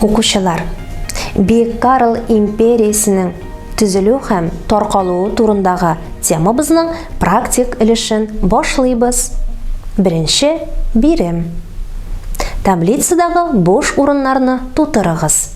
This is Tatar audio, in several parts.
Укучылар, Бик Карл империясенең төзелү һәм таркалуы турындагы темабызның практик өлешен башлыйбыз. Беренче бирем. Таблицадагы буш урыннарны тутырыгыз.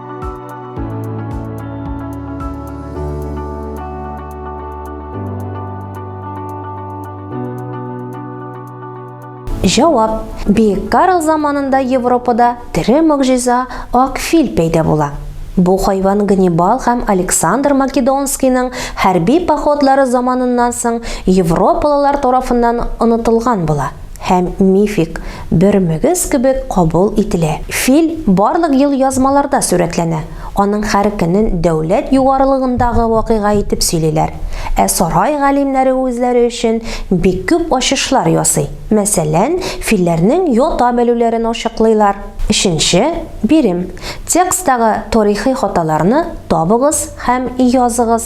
Җавап. Бик Карл заманында Европада тере могҗиза ак фил пәйда була. Бу хайван Ганнибал һәм Александр Македонскийның хәрби походлары заманыннан соң европалылар тарафыннан онытылган була. һәм мифик бер мөгез кебек кабул ителә. Фил барлык елъязмаларда сурәтләнә, аның һәр көнен дәүләт югарылыгындагы вакыйга итеп сөйлиләр. Ә сарай галимнәре үзләре өчен бик күп ачышлар ясый, мәсәлән, филләрнең ята белүләрен ачыклыйлар. Өченче бирем, Текстагы тарихи хаталарны табыгыз һәм языгыз.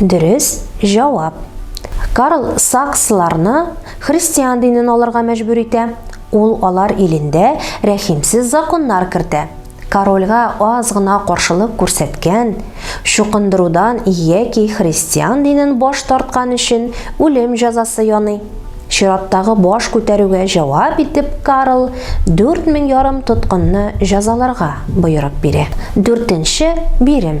Дөрес җавап. Карл Саксларны христиан динен алырга мәҗбүр итә. Ул алар илендә рәхимсез законнар кертә. Корольгә аз гына каршылык күрсәткән, чукындырудан яки христиан динен баш тарткан өчен үлем җәзасы яный. Чираттагы баш күтәрүгә җавап итеп Карл дүрт мең ярым тоткынны җәзаларга боерык бирә. Дүртенче бирем.